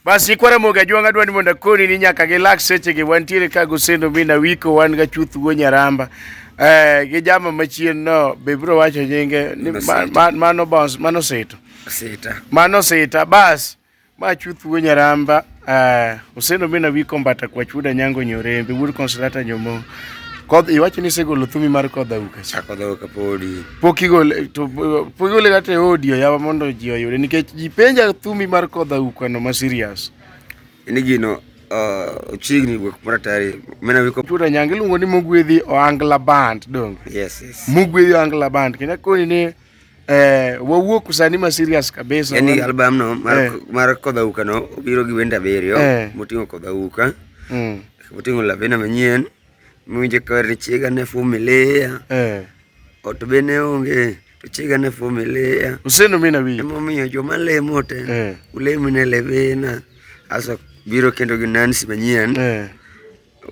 Basi kwara moga jwanga dwani mondo akoni ni nyaka gi lak seche gi wantiere ka gosendo mi nawiko wan ga chuth go nyaramba. Eh gi jama machien no be bro wacho nyinge ni ma- ma- mano boss mano seto. Sita. Mano sita bas ma chuth go nyaramba eh osendo mi nawiko mbata kwa chuda nyango nyorembe wuod konsolata nyomo. Kod iwacho ni segolo thumi mar kodha uka. Chako dhoka podi. pok igole to pok igole kata e audio yawa mondo ji oyude nikech ji penja thumi mar kodha ukwano ma serious ni gino uh, chiegni wuok mara tayari mena wiko tuta nyang iluongo ni mogwedhi oangla band dong yes yes mogwedhi oangla band kendo koni ni eh wawuok sani ma serious kabisa yani album no mar, eh. mar kodha uka no obiro gi wenda abiriyo eh. moting'o kodha uka mm. moting'o lavena manyien Miwinjo kar ni chiega ne fumilia. Eh. Ot be ne onge to chiega ne fumilia. Useno mina wiye. Emomiyo joma lemo te. Eh. Ulemi ne levena. Asa biro kendo gi Nancy manyien. Eh.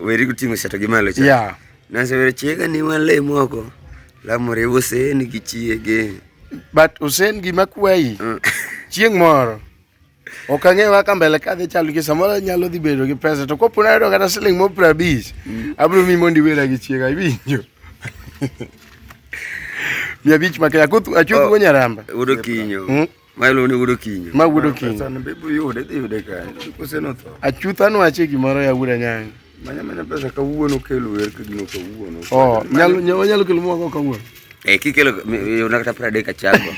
Weri guting'o seto gi malo cha. Yeah. Nancy weri chiega ni walemo oko. Lamore Hussein gi chiege. But Hussein gima kwayi. Mm. Chieng' moro. ok ang'eyo kaka mbele ka dhi chalo nikech samoro nyalo dhi bedo gi pesa to kopo nayudo kata siling mo piero abich mm. abiro mi mondo iwera gi chiega iwinjo mia abich ma kenya achuth go nyaramba wudo kinyo hmm? ma iluongo ni wudo kinyo ma wudo kinyo achutha nwache gimoro yawuda nyange Manya manya pesa kawuono kelo wer ka gino kawuono. Oh, nyalo nyalo nyalo kelo mwa kawuono. Eh, kikelo yona kata pra deka chako.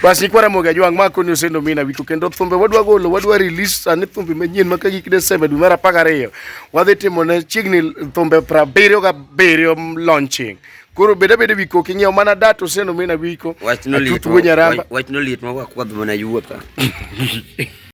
Bas ikwara moga jwang mako ni usendo mina wiko kendo thumbe wadwa golo wadwa release ani thumbe manyien maka gik Desemba dwe mar 12. Wadhi timo ne chiegni thumbe pra biriyo ga biriyo launching. Koro beda beda wiko king'iew mana data usendo mina wiko. Wachno liet. Wachno liet ma wakwadh mana yuwa ka.